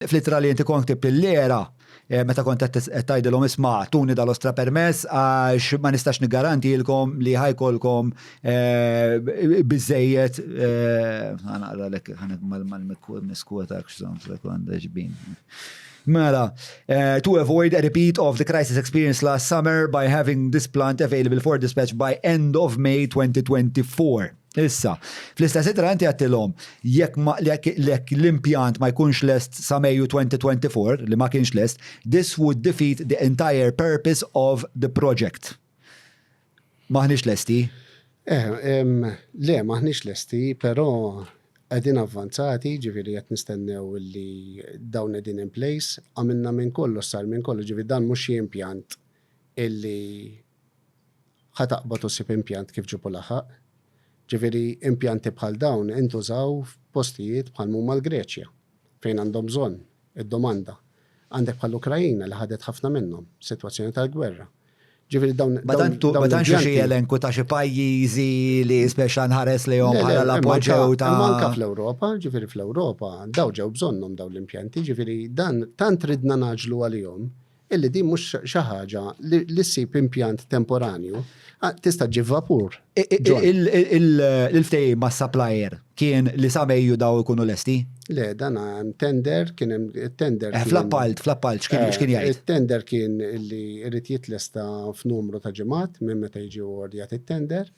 Fl-ittra li inti kont ktibt lill-IRA, meta kont qed tgħidilhom isma' tuni dal-ostra permess għax ma nistax niggarantihilkom li ħa jkollkom biżżejjed, ħa naqralek mal-miskwotak x'songs like għandha xbin. Mela, to avoid a repeat of the crisis experienced last summer by having this plant available for dispatch by end of May 2024. Issa, fl-istess ittra inti għedtilhom jekk jekk l-impjant ma jkunx lest sa Mejju 2024 li ma kienx lest, this would defeat the entire purpose of the project. M'aħniex lesti? Eh, le, m'aħniex lesti, però qegħdin avvanzati, ġifieri qed nistennew li dawn qegħdin in place, għamilna minn kollox sar minn kollox, ġifieri dan mhux xi impjant illi Ħa taqbad u ssib impjant kif ġipu laħaq. Ġifieri impjanti bħal dawn intużaw f'postijiet bħal m'huma l-Greċja, fejn għandhom bżonn, id-domanda. Għandek bħall-Ukraina li ħadet ħafna minnhom, sitwazzjoni tal-gwerra. Ġifieri dawn l-impjanti. Ma tantx hemm xi elenku ta' xi pajjiżi li speċi nħares lejhom bħala l-appoġġew ta'. Imma anke fl-Ewropa, ġifieri fl-Ewropa, dawn ġew bżonnhom dawn l-impjanti, ġifieri dan tant ridna ngħaġġlu għalihom illi din mhux xi ħaġa li ssib impjant temporanju, tista' ġġib vapur. Il-ftehim ma' supplier kien li sa Mejju daw ikunu lesti? Le, dan hemm tender, kien hemm tender. Eh, fl-appalt, fl-appalt, x'kien eh, jgħid? Il-tender kien li jrid jitlesta f'numru ta' ġimgħat minn meta jiġi ordjat it-tender.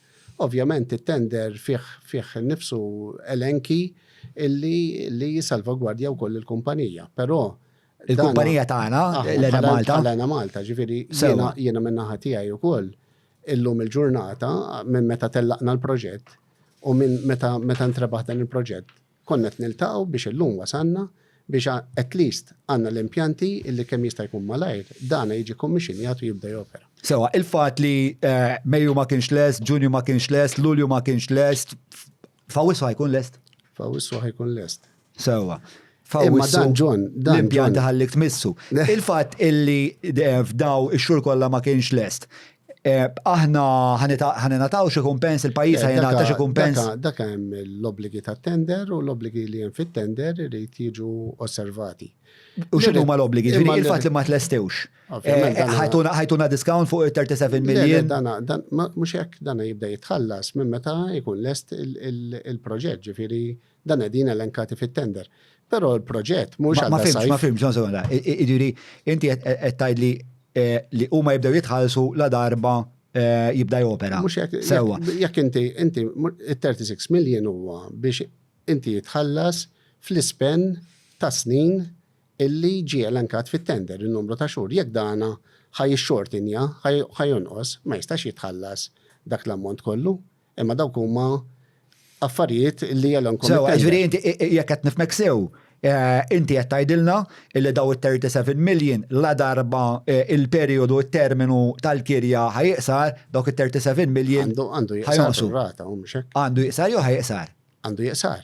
Ovvjament it-tender fih nifsu elenki illi li jisalvagwardja wkoll il-kumpanija, però Il-kumpanija tagħna, Lena Malta. Lena Malta, ġifieri jiena minn naħa tiegħi wkoll illum il-ġurnata minn meta tellaqna l-proġett u minn meta meta ntrebaħ dan il-proġett konnet niltaqgħu biex illum wasanna biex at least għandna l-impjanti illi kemm jista' jkun malajr dana jiġi kommissionjat u jibda jopera. Sewa, il-fatt li eh, Mejju ma kienx lest, Ġunju ma kienx lest, Lulju ma kienx lest, fawissu ħajkun lest? Fawissu ħajkun lest. Sewa. Imma dan ġon, dan l-impjan daħallik tmissu. Il-fatt illi eh, f'daw ix-xhur kollha ma kienx lest. Eh, aħna ħanenataw xi kumpens, il-pajjiż eh, ħanenata xi kumpens. Dak hemm l-obbligi ta' tender u l-obbligi li hemm fit-tender irid jiġu osservati. U xinu ma l-obligi? Ġviri, il-fat li ma t-lestewx. Eh, ħajtuna discount fuq 37 miljon. Dana, mux jek dana jibda jitħallas minn meta jkun lest il-proġett, ġviri, il Dan qegħdin elenkati fit-tender. Però l-proġett mhux għal sajf. Ma fimx, ma fimx, non sekonda. Jiġifieri inti qed tgħidli eh, li huma jibdew jitħallsu la darba eh, jibda jopera. Mhux jekk. Sewwa. Jekk inti inti 36 million huwa biex inti jitħallas fl-ispen ta' snin illi ġie elenkat fit-tender il-numru ta' xhur. Jekk dana ħaj xortinja, ħaj jonqos, ma jistax jitħallas dak l-ammont kollu. Imma dawk huma affarijiet li jelhom Sew, komittent. ġifieri inti i- i- jekk qed nifmek sew, eh, inti qed tgħidilna li daw it-37 million la darba eh, il-perjodu t-terminu tal-kirja ħajiqsar, dawk it-37 million Għandu għandu jiqsar ħajonqsu. rata u mhux hekk. Għandu jiqsar jew ħajiqsar? Għandu jiqsar.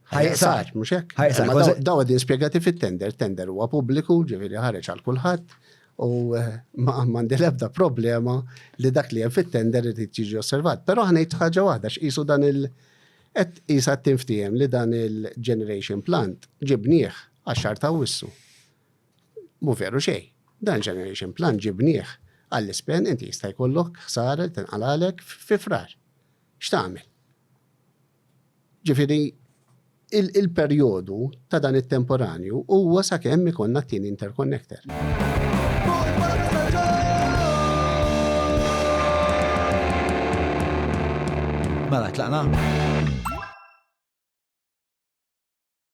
Ħajqsar, mhux hekk? Ħajqsar. Daw għadin spjegati fit-tender, tender huwa pubbliku, ġifieri ħareġ għal kulħadd u eh, ma għandi l-ebda problema li dak li hemm fit-tender li tiġi osservat. Però ħanejt ħaġa waħda x'isu dan il- qed qisha tinftiehem li dan il-generation plant ġibnieh għax-xar ta' wissu. Mu veru xejn. Dan generation plant ġibnieh għall-ispen inti jista' jkollok ħsara tinqalalek fi frar. X'tagħmel? Ġifieri, il-perjodu ta' dan it-temporanju huwa sakemm ikollna t-tieni interconnector. Mela, tlaqna?